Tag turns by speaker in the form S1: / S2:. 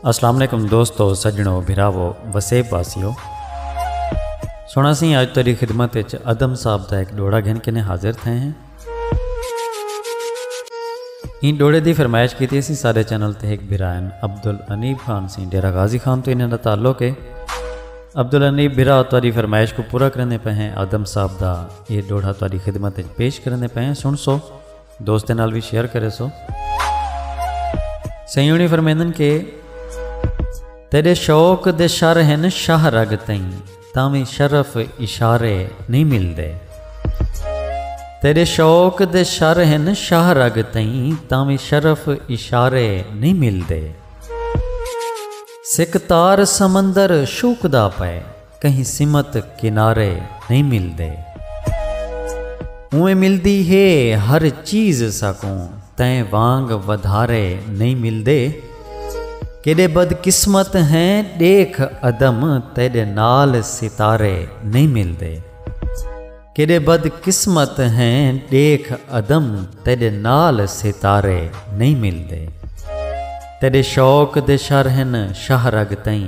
S1: السلام علیکم دوستو سجنو بھراو وسیب واسیو سونا سی اج تیری خدمت وچ ادم صاحب دا ایک ڈوڑا گھن کے نے حاضر تھے ہیں این ڈوڑے دی فرمائش کیتی سی سارے چینل تے ایک بھرائن عبد الانیب خان سی ڈیرہ غازی خان تو انہاں دا تعلق ہے عبد الانیب بھرا تیری فرمائش کو پورا کرنے پہ ہیں ادم صاحب دا یہ ڈوڑا تیری خدمت وچ پیش کرنے پہ ہیں سن سو دوستیں نال وی شیئر کرے سو سیونی فرمیندن کہ تیرے شوق دے شر ہن شاہ رگ تئیں تاویں شرف اشارے نہیں مل دے تیرے شوق دے شر ہن شاہ رگ تئیں تاویں شرف اشارے نہیں مل دے سکھ تار سمندر شوکدا پئے کہیں سمت کنارے نئیں ملدے۔ اونویں ملدی ہے ہر چیز ساکوں تیں وانگ ودھارے نئیں ملدے۔ کیݙے بد قسمت ہیں ݙیکھ ادم تیݙے نال ستارے نئیں ملدے۔ کیݙے بد قسمت ہیں ݙیکھ ادم تیݙے نال ستارے نئیں ملدے۔ تیݙے شوق دے شر ہن شاہ رگ تئیں۔